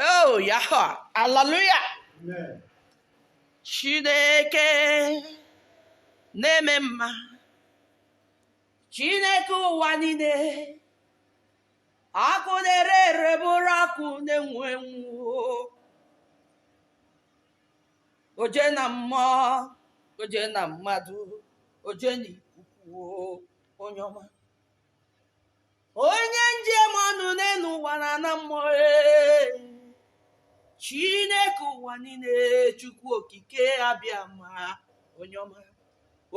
Oh, Yahweh. Hallelujah. Amen. Chineke na-eme mma. Chineke ụwa niile. Ọkụ na-ere ere bụrụ ọkụ na-enwu enwu. Oje na mmụọ, oje na mmadụ, oje na ikuku, onye ọma. onye m ji eme ọnụ n'elu ụwa na na mmụọ ee. chineke ụwa niile chukwu okike abiama onye ọma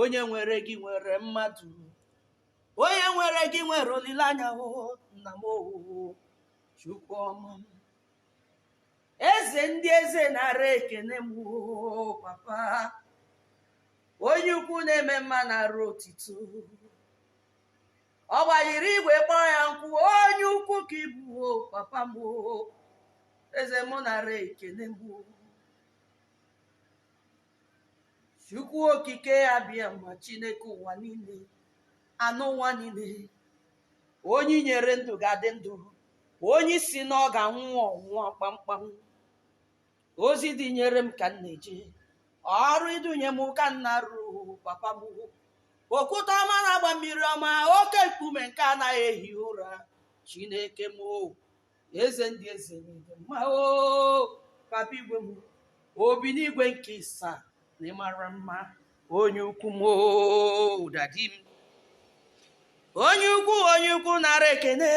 onye nwere gị nwere mmadụ onye nwere gị nwere olileanya o nna m o chukwu ọma m. eze ndị eze nara ekene m oo, papa onye ukwu na-eme mma nara otito ọ gbajiri igwe kpọọ ya nkụ onye ukwu ka ị bụ o papa m o eze mụ nara ekene m o chukwu okike abiama chineke ụwa niile anụ ụwa niile onye i nyere ndụ ga-adị ndụ onye ị sị na ọ ga-anwụ ọ nwụọ kpamkpam ozi i dunyere m ka m na-eje ọrụ i dunye m ka m na-arụ papa m okwute ọma na-agba mmiri ọma oke nkume nke anaghị ehi ụra chineke m o, eze ndị eze n'ịdị mma o papa igwe m obi n'igwe nke ịsa na ịmara mma onye ukwu m o dadi m onye ukwu onye ukwu nara ekene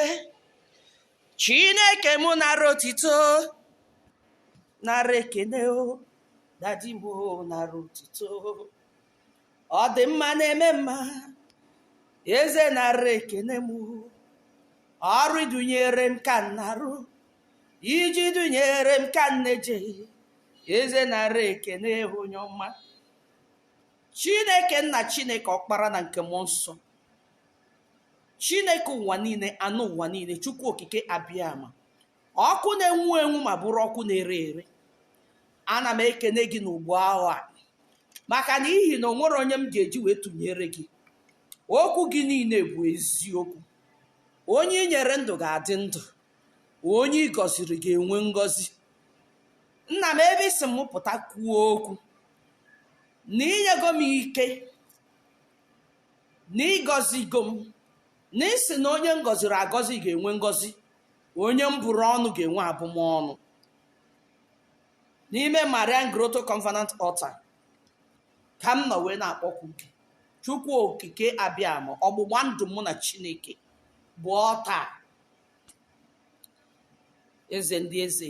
chineke mụ nara otito nara ekene o dadi m o nara otito ọ dị mma na-eme mma eze nara ekene m ọrụ i dunyere m ka m na-arụ ije i dunyere m ka m na-eje eze nara ekene onye ọma chineke nna chineke ọkpara na nke mmụọ nsọ chineke ụwa niile anụ ụwa niile chukwu okike abiama ọkụ na-enwu enwu ma bụrụ ọkụ na-ere ere ana m ekene gị n'ugbo ahụ a maka na ihi na o nwerọ onye m ga-eji wee tụnyere gị okwu gị niile bụ eziokwu onye i nyere ndụ ga-adị ndụ onye ị gọziri ga-enwe ngọzi nna m ebe ị sị m pụta kwuo okwu na i nyego m ike na ị gọzigo m na ị sị na onye m gọziri agọzi ga-enwe ngọzi onye m bụrụ ọnụ ga-enwe abụmọnụ n'ime marian grotto covenant altar ka m nọ wee na-akpọku gị chukwu okike abịama ọgbụgba ndụ mụ na chineke bụ ọta eze ndị eze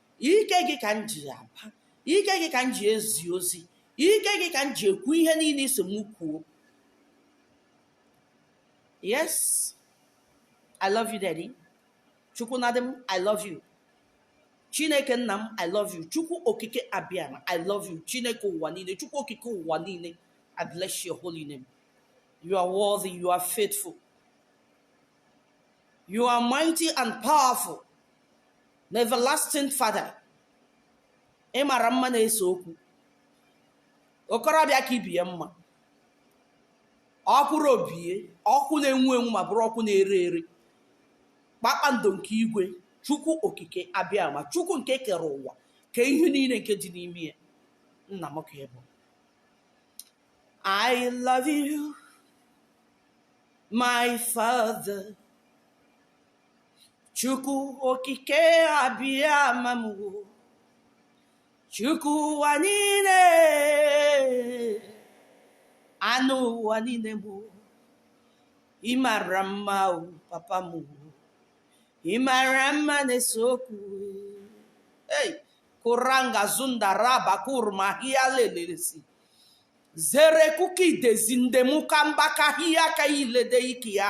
ike gị ka m ji aba ike gị ka m ji ezi ozi ike gị ka m ji ekwu ihe niile ị sị m kwuo yes i love you daddy chukwu na dị m i love you chineke nna m i love you chukwu okike abịama i love you chineke ụwa niile chukwu okike ụwa niile i bless your holy name you are worthy you are faithful you are mighty and powerful na everlasting father ị mara mma na-ese okwu okorobịa ka ibe ya mma okwuru o bie ọkụ na-enwu enwu ma bụrụ ọkụ na-ere ere kpakpando nke igwe chukwu okike abịama chukwu nke kere ụwa kee ihe niile nke dị n'ime ya nna m ka ị bụ I love you, my father. Chukwu okike abịama m o. Chukwu ụwa niile ana ụwa niile m o. ị mara mma o papa m o. ị mara mma na-ese okwu ei kuranga zunda raba kurma hia lelelesi zere kuki dezi ndemuka mbaka hia ka ilede iki ya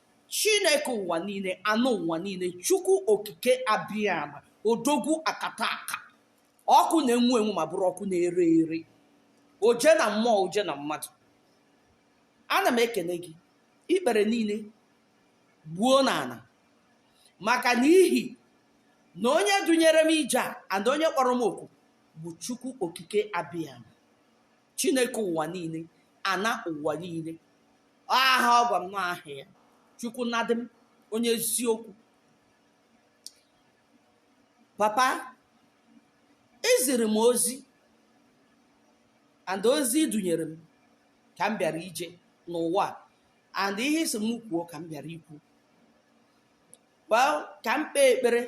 chineke ụwa niile ana ụwa niile chukwu okike abịama odogwu akataka ọkụ na-enwu enwu ma bụrụ ọkụ na-ere ere oje na mmụọ oje na mmadụ ana m ekene gị ikpere niile gbuo n'ana maka n'ihi na onye dunyere m ije a and onye kpọrọ m oku bụ chukwu okike abịama chineke ụwa niile ana ụwa niile aha ọ gwa m na aha ya chukwu nadị m onye eziokwu papa i ziri m ozi and ozi i dunyere m ka m bịara ije n'ụwa a, and ihe ị sị m kwuo ka m bịara ikwu well ka m kpee ekpere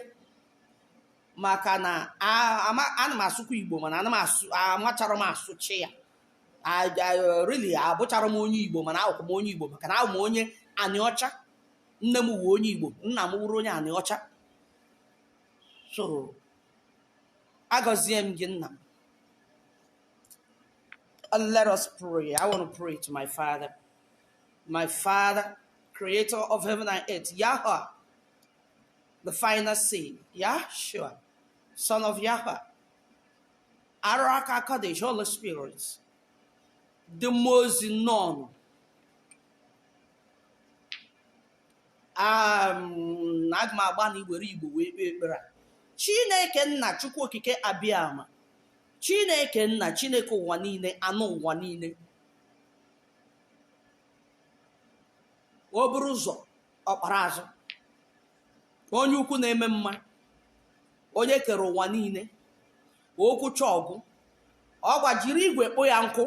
maka na ana m asụkwa igbo mana ana m asụ amacharọ m asụcha ya uh, really abụcharọ m onye igbo mana awụkwa m onye igbo maka na awụ m onye anịọcha nne m wụ onye igbo nna m wụrụ onye anịọcha so agọzie m gị nna m let us pray i want to pray to my father My Father, creator of heaven and earth, Yahweh, the final son, Yahshua, son of Yahweh, Ruach HaKodesh, Holy Spirit, ndị mmụọ ozi nọnụ. Um, aga m agbanị iwere igbo wee kpee ekpere a chineke nna chukwu okike abịama chineke nna chineke ụwa niile anị ụwa niile o buru ụzọ ọkpara azụ onye ukwu na-eme mma onye kere ụwa niile okwuchaa ọ gwụ ọgbajiri igwe kpọọ ya nkụ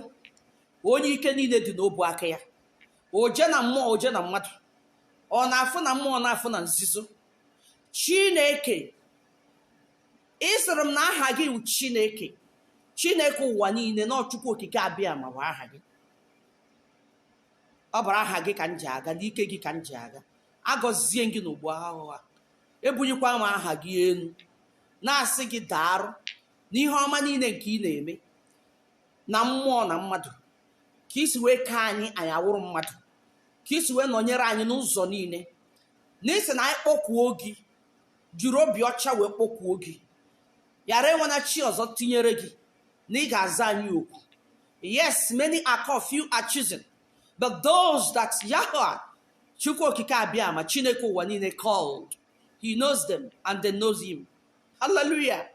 onye ike niile dị n'ọbụ aka ya oje na mmụọ oje na mmadụ ọ na-afụ na mmụọ na-afụ na nzuzo chineke ị sịrị m na aha gị wụ chineke chineke ụwa niile na ọ chukwu okike abịama wụ aha gị ọ bụrụ aha gị ka m ji aga n'ike gị ka m ji aga agọzie m gị n'ugbo ahụhụ a ebunyekwa m aha gị enu na-asị gị daarụ n'ihe ọma niile nke ị na-eme na mmụọ na mmadụ ka i si wee kee anyị anyị awụrụ mmadụ ka i si wee nọnyere anyị n'ụzọ niile na ị sị na anyị kpọkuo gị jiri obi ọcha wee kpọkuo gị ghara enwena chi ọzọ tinyere gị na ị ga-aza anyị oku yes many are called few are chosen but those that Yahweh Chukwu okike abịama Chineke ụwa niile called he knows them and they knows him hallelujah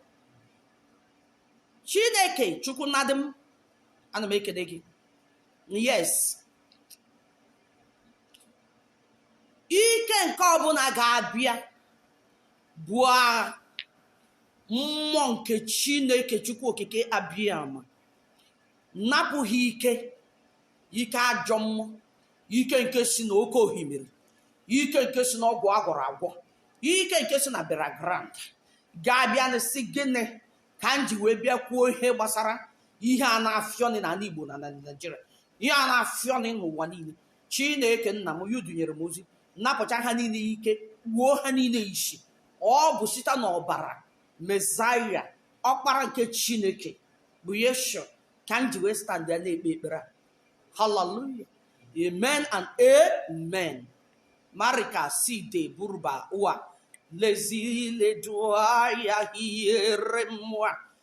Chineke Chukwu nnadị m ana m ekene gị yes ike nke ọbụla ga-abịa buo agha mmụọ nke chineke chukwu okike abịama napụ ha ike ike ajọ mmụọ ike nke si na oke ohimiri ike nke si na ọgwụ agwọrọ agwọ ike nke si na burial ground ga-abịa na-asị gịnị ka m ji wee bịa kwuo ihe gbasara ihe a na-afịọnị n'anị igbo na naijiria ihe a na-afịọ na n'ụwa niile chineke nna m onye dunyere m ozi napụcha ha niile ike kpuo ha niile isi ọ bụ site n'ọbara mezaya ọkpara nke chineke bụ yeshua ka m ji wee stand ya na-ekpe ekpere a haleluya amen and amen marika side burba ụwa lezile dụa ya hiere mmụọ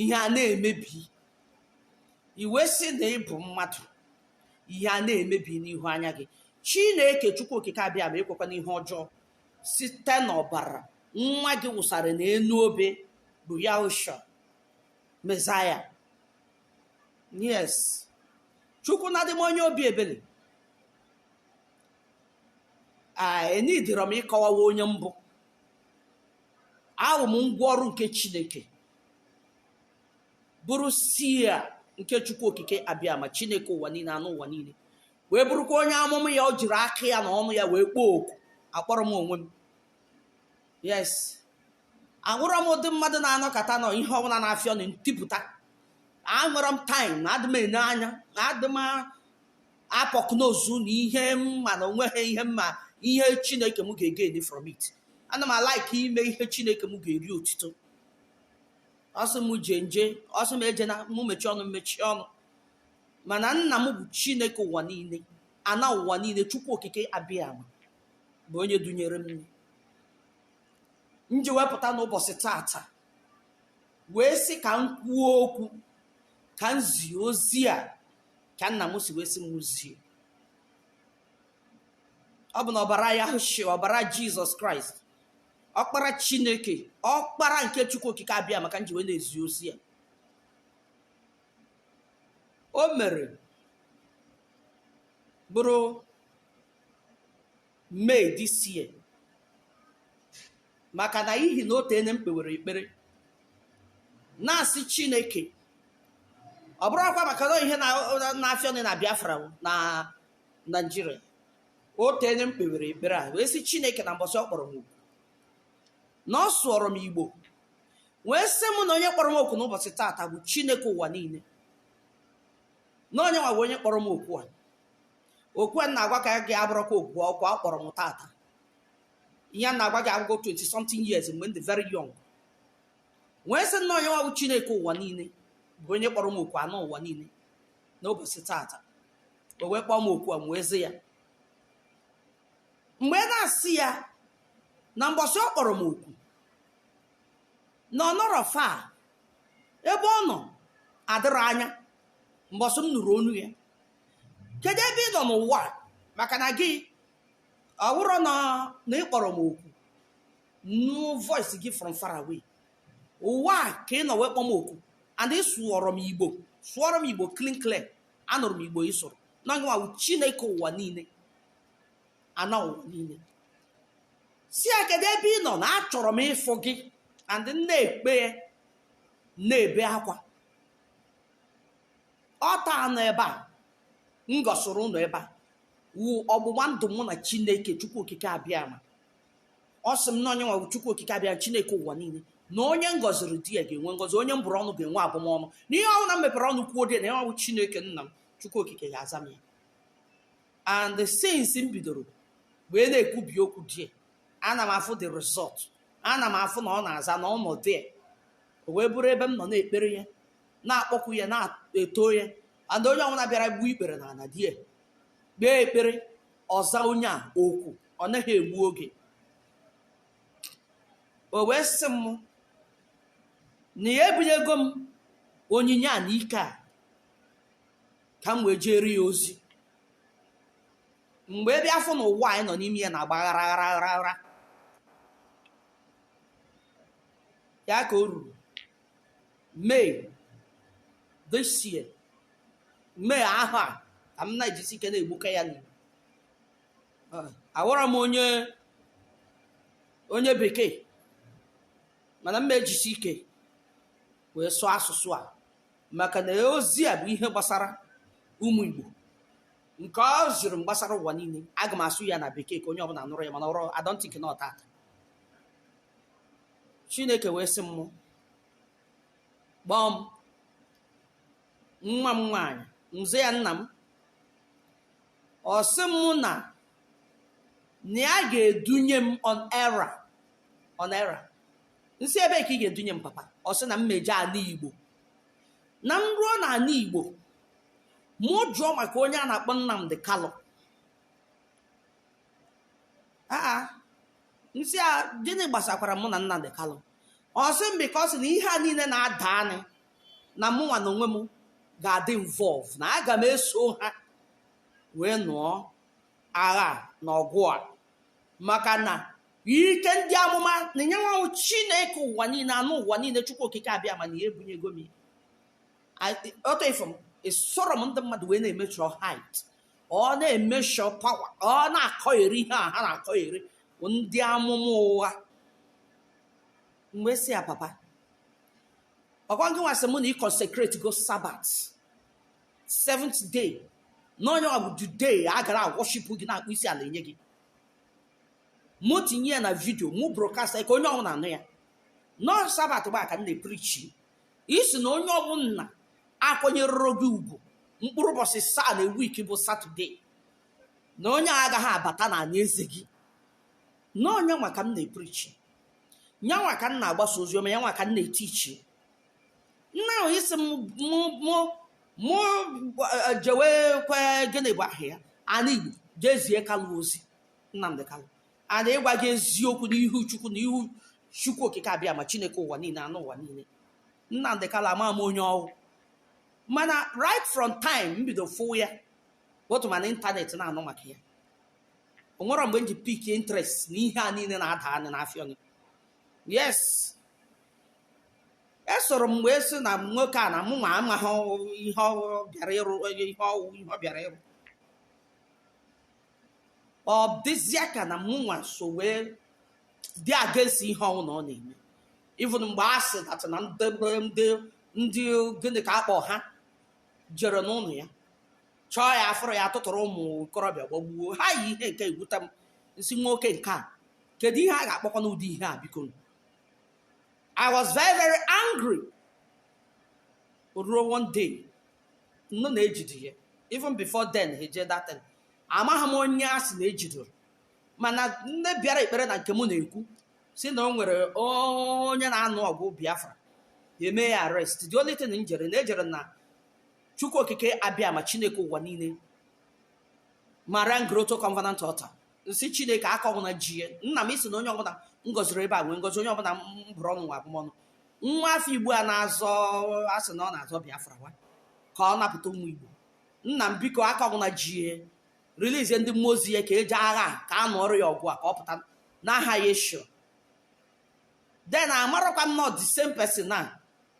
ihe a na-emebi i wee sị na ị bụ mmadụ ihe a na-emebi n'ihu anya gị chineke chukwu okike abịama ekwekwana ihe ọjọọ site n'ọbara nwa gị wụsara n'elu obe bụ yahushua mezaya yes chukwu na adị m onye obi ebere a enidịrọ m ịkọwawa onye m bụ awụ m ngwa ọrụ nke chineke bụrụ seer nke chukwu okike abịama chineke ụwa niile ana ụwa niile wee bụrụkwa onye amụma ya o jiri aka ya na ọnụ ya wee kpọọ oku akpọrọ m onwe m yes awụrọ m ụdị mmadụ na-anọkata nọ ihe ọbụla na-afịọ nụ m tipụta awụrọ m type na adị m ene anya na adị m a-pokenose na ihe m ma na o nweghị ihe mma ihe chineke m ga-egain from it ana m a-like ime ihe chineke m ga-eri otito ọ sị m jee m jee ọ sị m ejena mụ mechie ọnụ m mechie ọnụ mana nna m bụ chineke ụwa niile ana ụwa niile chukwu okike abịama bụ onye dunyere m m ji wee pụta n'ụbọchị taata wee sị ka m kwuo okwu ka m zie ozi a ka nna m si wee sị mụ zie ọ bụ na ọbara yeshua ọbara jizọs kraịst ọkpara chineke ọkpara nke chukwu okike abịama ka m ji wee na-ezi ozi a o mere bụrụ May this year maka na ihi na o teene m kpewere ekpere na-asị Chineke ọ bụrụ akwa maka na ihe na-afịọ nụ na Biafra na Naịjirịa o teene m kpewere ekpere a wee sị Chineke na mbọsị ọ kpọrọ m oku na ọ sụọrọ m Igbo wee sị m na onye kpọrọ m oku n'ụbọchị taata bụ Chineke ụwa niile na onye nwa bụ onye kpọrọ m oku a okwu a na-agwa ka gị abụrọkwa oku ọ kpọrọ m tata ihe m na-agwa gị awụgo 20 something years mgbe m dị very young wee sị na ọ ya nwa bụ chineke ụwa niile bụ onye kpọrọ m oku ana ụwa niile n'ụbọchị tata o wee kpọọ m oku a m wee zi ya mgbe ị na-asị ya na mbọsị ọ kpọrọ m oku na ọ nọrọ far ebe ọ nọ adịrọ anya mbọsị m nụrụ onu ya kedu ebe ị nọ n'ụwa maka na gị ọ wụrọ na ị kpọrọ m oku nụ voice gị from far away ụwa a ka ị nọ wee kpọ m oku and ị sụọrọ m igbo sụọrọ m igbo clean clear anụrụ m igbo ị sụrụ na ọ gị nwa wụ chineke ụwa niile ana ụwa niile sị ya kedu ebe ị nọ na achọrọ m ịfụ gị and na-ekpe ya na-ebe akwa altar nọ ebe a m gosiri unu ebe a wụ ọgbụgba ndụ mụ na chineke chukwu okike abịama ọ sị m na ọ ya nwa bụ chukwu okike abịama chineke ụwa niile na onye m gọziri there ga-enwe ngọzi onye m bụrụ ọnụ ga-enwe abụmọnụ na ihe ọwụna m mepere ọnụ kwuo there na ya bụ chineke nna m chukwu okike ga-aza m ya and since m bidoro wee na-ekwube okwu there ana m afụ the result ana m afụ na ọ na-aza na ọ nọ there o wee bụrụ ebe m nọ na-ekpere ya na-akpọku ya na-eto ya and onye ọbụla bịara gbuo ikpere na ala there kpee ekpere ọ zaa onye a oku ọ naghị egbu oge o wee sị m na ya ebunyego m onyinye a na ike a ka m wee jeere ya ozi m wee bịa afụ na ụwa anyị nọ n'ime ya na-agba ghara ghara ghara ghara ya ka o ruru May this year May ahụ a ka m na-ejisi ike na-egbuka ya n'igbo awara m onye onye bekee mana m ejisi ike wee sụọ asụsụ a maka na ozi a bụ ihe gbasara ụmụ Igbo nke o ziri m gbasara ụwa niile aga m asụ ya na bekee ka onye ọbụla nụrụ ya mana I don't think na ọ tata chineke wee sị mụ gbọọ m nwa m nwaanyị m sị ya nna m ọ sị m na na ya ga-edunye m on errand on errand m sị ebe ka ị ga-edunye m papa ọ sị na m jee ala igbo na m ruo na ala igbo mụ jụọ maka onye a na-akpọ nnamdi kanu aa m sị ya gịnị gbasakwara mụ na Nnamdi Kanu ọ sị m because na ihe a niile na-adanị na mụnwa na onwe m ga-adị involve na aga m eso ha wee nụọ agha na ọgụ a maka na ike ndị amụma na nyanwa wụ chineke ụwa niile anụ ụwa niile chukwu okike abịama na ya ebunyego m ọtọ ifo m esoro m ndị mmadụ wee na-emeasure height or na-emeasure power or na-akọgheri ihe a ha na-akọgheri bụ ndị amụma ụgha m wee sị ya papa ọkwa ngịnwa sị mụ na ị consecrate go Sabbath seventh day na nyanwa bụ the day a ga na-aworship gị na-akpọ isi ala enye gị mụ tinye ya na video mụ broadcast ka onye ọwụna nụ ya na ọ Sabbath gba ka m na-eprichi ị sị na onye ọbụla akwanyerọrọ gị ugwu mkpụrụ ụbọchị asaa na week bụ Saturday na onye a agaghị abata na anị eze gị na ọ nya nwa ka m na-eprichi ya nwa ka m na-agbasa ozi ọma ya nwa ka m na-etichi now ị sị m mụ mụ mụ eh, jewe kwe gịnị bụ aha ya ana igbo je zie Kanu ozi Nnamdi Kanu and ịgwa gị eziokwu n'ihu chukwu na ihu chukwu okike abịama chineke ụwa niile anụ ụwa niile Nnamdi Kanu ama m onye ọwụ mana right from time m bido fụ ya both ma na internet na-anụ maka ya o nwerọ mgbe m ji pick interest na ihe a niile na-adanị na-afịọnụ yes esoro m wee sị na nwoke a na mụnwa amaghị ihe ọ bịara ịrụ ihe ọwụ ihe ọ bịara ịrụ ọ dịzịa ka na mụnwa so wee dị against ihe ọwụna ọ na-eme even mgbe a sị that na ndị ndị ndị gịnị ka akpọ ha jere n'ụlọ ya chọọ ya afụrọ ya tụtụrụ ụmụ okorobịa gbagbuo ha ihe nke a wute m m sị nwoke nke a kedu ihe a ga-akpọkwanụ ụdị ihe a biko I was very very angry ruo one day m nụ na ejide ya even before then ha eje that thing amaghị m onye a sị na ejidoro mana ndị bịara ekpere na nke m na-ekwu si na o nwere onye na-anụ ọgụ biafra e mee ya arrest the only thing m jere na ejere na chukwu okike abịama chineke ụwa niile Marian Grotto covenant altar m sị chineke aka ọbụla ji ya nna m ị sị na onye ọbụla m gọziri ebe a nwee ngọzi onye ọbụla m bụrụ ọnụ nwee abụmọnụ nwa afọ igbo a na-azọ a sị na ọ na-azọ biafra nwa ka ọ napụta ụmụ igbo nna m biko aka ọbụla ji ya release ndị mmụọ ozi ya ka eji agha ka a nụọrọ ya ọgụ a ka ọ pụta n'aha Yeshua then amarọkwa m na ọ the same person na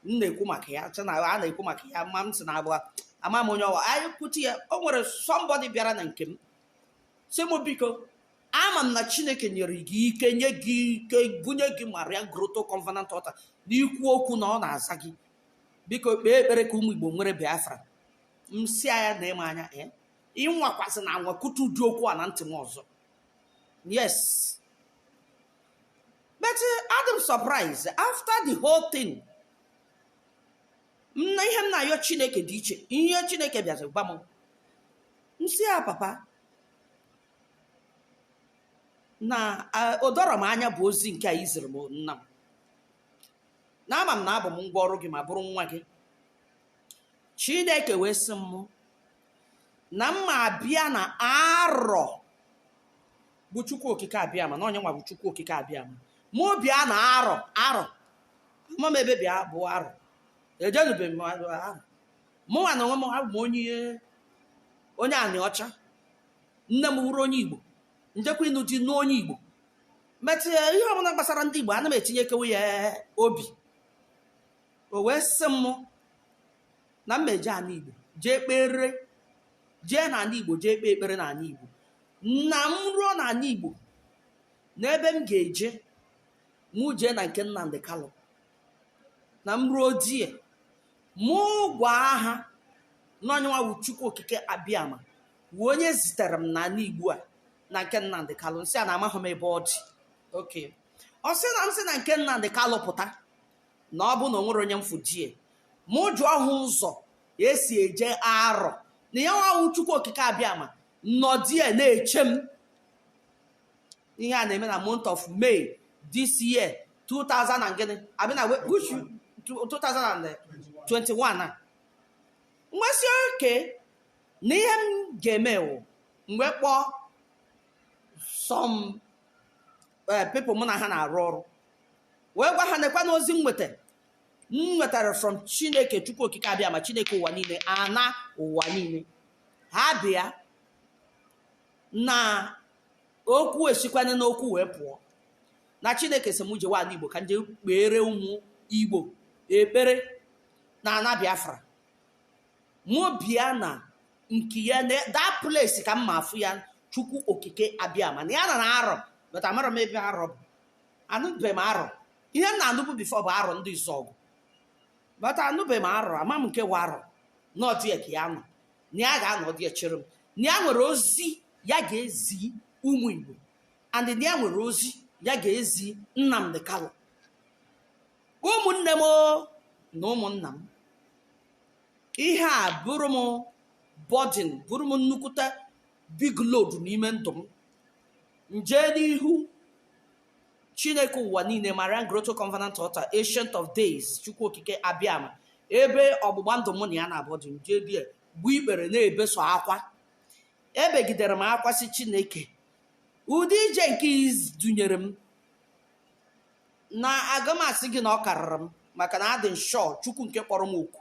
m na-ekwu maka ya chena a na-ekwu maka ya ma m si na abụọ ama m onye ọwụ anyị kwute ya o nwere somebody bịara na nke m si m biko ama m na chineke nyere gị ike nye gị ike bunye gị maria grotto covenant altar na i kwuo okwu na ọ na-aza gị biko kpee ekpere ka ụmụ igbo nwere biafra m sị ya nee m anya ee ịnwakwazina anwa kwutu ụdị okwu a na ntị m ọzọ yes but uh, adị m surprise after the whole thing na ihe m na-ayọ chineke dị iche ihe chineke bịazi gwa m m sị ya papa na a- o doro m anya bụ ozi nke a i ziri m nna m na ama m na abụ m ngwa ọrụ gị ma bụrụ nwa gị chineke wee sị m na m ma abịa na arọ bụ chukwu okike abịama na yanwa bụ chukwu okike abịama mụ bịa na arọ arọ ama m ebe bịa bụ arọ ejenube m arọ mụnwa na onwe m abụ m onye onye aniọcha nne m wụrụ onye igbo m jekwa ịnụ di nụọ onye igbo metụ ya ihe ọbụla gbasara ndị igbo ana m etinyekewe ya obi o wee sị m na m ma eje ala igbo jee kpere jee n'ala igbo jee kpee ekpere n'ala igbo na m ruo n'ala Igbo na ebe m ga-eje mụ jee na nke Nnamdi Kanu na m ruo there mụ gwa ha na ọ yanwa bụ Chukwu Okike Abịama wụ onye zitere m n'ala Igbo a na nke Nnamdi Kanu m sị ya na amaghị m ebe ọ dị okay ọ sị na m si na nke Nnamdi Kanu pụta na ọ bụ na o nwere onye m fụ there mụ jụọ ha ụzọ esi eje arọ na yanwa wụ chukwu okike abịama nọ there na-eche m ihe a na-eme na month of may this year 2000 and gịnị abịa na we- which you- 2021 a m wee sị okay na ihe m ga-eme wụ m wee kpọọ some eh, people mụ na ha na-arụ ọrụ wee gwa ha nekwanụ ozi m nweta m nwetara from chineke chukwu okike abịama chineke ụwa niile ana ụwa niile ha bịa na okwu esikwana n'okwu wee pụọ na chineke sị m jewe ala igbo ka m jee kpeere ụmụ igbo ekpere na ana biafra mụ bịa na nke ya na that place ka m ma afụ ya chukwu okike abịama na ya nọ na arọ but amarọ m ebe arọ bụ anụbeghị m arọ ihe m na-anụbu before bụ arọ ndị izuọgụ but anụbeghị m arọ ama m nke wụ arọ na ọ there ka ya nọ na ya ga-anọ there chere m na ya nwere ozi ya ga-ezi ụmụ igbo and na ya nwere ozi ya ga-ezi nnamdị kalụ ụmụnne m o, na ụmụnna m ihe a bụrụ m burden bụrụ m nnukwute big load n'ime ndụ m m jee n'ihu chineke ụwa niile marian grotto covenant altar ancient of days chukwu okike abịama ebe ọgbụgba ndụ mụ na ya na-abụ dị m jee there gbuo ikpere na-ebe sọ akwa ebegidere m akwa sị chineke ụdị ije nke i dunyere m na aga m asị gị na ọ karịrị m maka na adị m sure chukwu nke kpọrọ m oku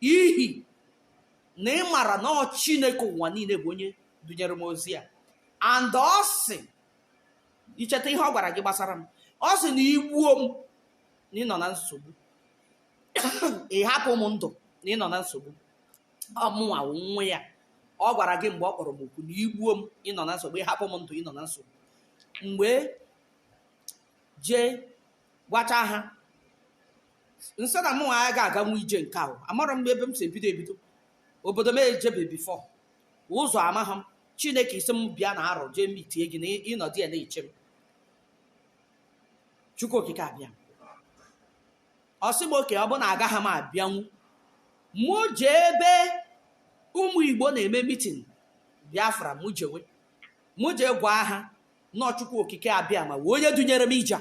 ihi na ị mara na ọ chineke ụwa niile bụ onye dunyere m ozi a and ọ sị i cheta ihe ọ gwara gị gbasara m ọ sị na i gbuo m na ị nọ na nsogbu ị hapụ m ndụ na ị nọ na nsogbu ọ mụnwa wụ nwa ya ọ gwara gị mgbe ọ kpọrọ m oku na i gbuo m ị nọ na nsogbu ị hapụ m ndụ ị nọ na nsogbu mgbe jee gwacha ha m sị na mụ agaghị aganwu ije nke ahụ amarọ m ebe m si ebido ebido obodo m ejebe before ụzọ amaghị m chineke ị sị m bịa na arọ jee meetie gị na ị nọ there na-eche m chukwu okike abịama ọ sị m okay ọ bụ na agaghị m abịanwu mụ jee ebe ụmụ igbo na-eme meeting biafra mụ jewe mụ jee gwa ha na ọ chukwu okike abịama wụ onye dunyere m ije a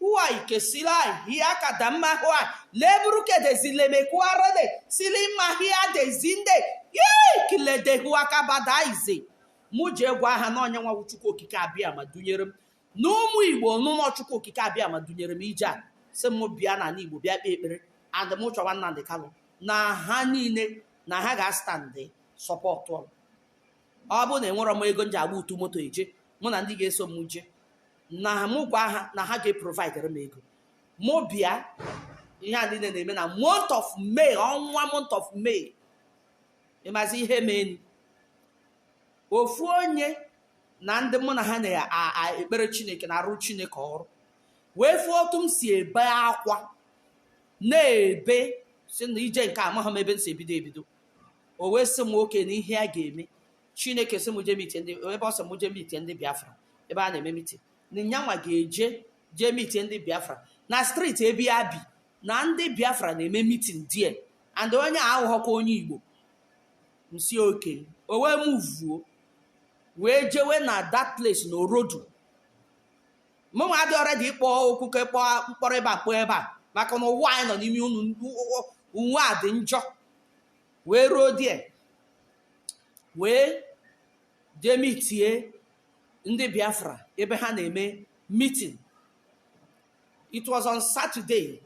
uai kesilai hia kadamma huai leburu kedezi lemekuarede silima hia dezinde yei kilede hua kabadaize mụ jee gwa ha na onye nwa chukwu okike abịama dunyere m na ụmụ igbo na ọ chukwu okike abịama dunyere m ije a sị m bịa n'ala igbo bịa kpee ekpere and m chọwa nnamdị kalụ na ha niile na ha ga-astandị support ọ bụ na enwerọ m ego m ji agba utu moto eje mụ na ndị ga-eso m je na mụ gwa ha na ha ga-eprovidere m ego mụ bịa ihe a niile na-eme na month of May ọnwa month of May ị mazi ihe menụ ofu onye na ndị mụ na ha na-ekpere Chineke na-arụ Chineke ọrụ wee fụ otu m si ebe akwa na-ebe sị na ije nke a amaghị m ebe m si ebido ebido o wee sị m nwoke na ihe a ga-eme chineke sị m jee mitie ndị ebe ọ sị m jee mitie ndị biafra ebe a na-eme mitin na yanwa ga-eje jee mitie ndị biafra na striti ebe ya bi na ndị biafra na-eme mitin there and onye a abụghọkwa onye igbo m sị okay o wee muvuo wee jewe na that place na orodu mụnwa adịrọ ready ịkpọ okwu ka ịkpọ mkpọrọ ebe a kpọọ ebe a maka na ụwa anyị nọ n'ime enu ụwa a dị njọ wee ruo there wee jee mitie ndị biafra ebe ha na-eme meeting it was on saturday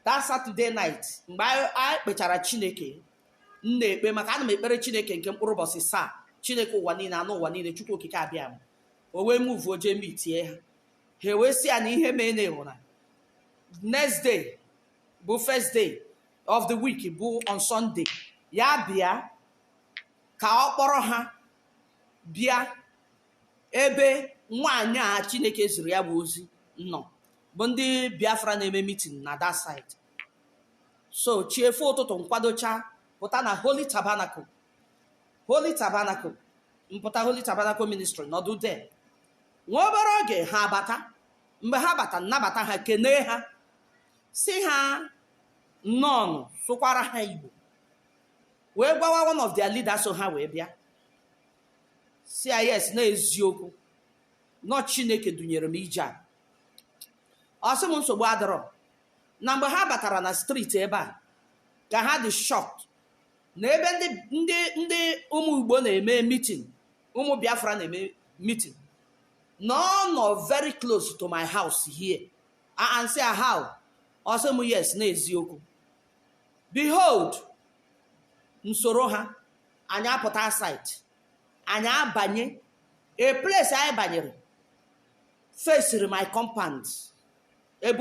that saturday night mgbe anyị kpechara chineke m na-ekpe maka ana m ekpere chineke nke mkpụrụ ụbọchị asaa chineke ụwa niile ana ụwa niile chukwu okike abiama o wee muvuo jee mitie ha ha ewee sị ya na ihe mee na ị hụ na next day bụ first day of the week bụ on Sunday ya bịa ka ọ kpọrọ ha bịa ebe nwaanyị a Chineke ziri ya bụ ozi nọ bụ ndị Biafra na-eme mitin na that side so chi efo ụtụtụ m kwadocha pụta na Holy Tabernacle Holy Tabernacle m pụta Holy Tabernacle Ministry nọdụ there nwa obere oge ha abata mgbe ha bata m nabata ha kenee ha sị ha nnọọnụ sụkwara ha igbo wee gwawa one of their leaders so ha wee bịa sị ya yes n'eziokwu na ọ chineke dunyere m ije a ọ sị m nsogbu adịrọ na mgbe ha batara na striti ebe a ka ha dị shocked na ebe ndị ndị ndị ụmụ igbo na-eme meeting ụmụ biafra na-eme meeting na ọ nọ very close to my house here m sị ya how ọ sị m yes n'eziokwu behold m soro ha anyị apụta outside anyị abanye a place anyị banyere fesiri my compound ebe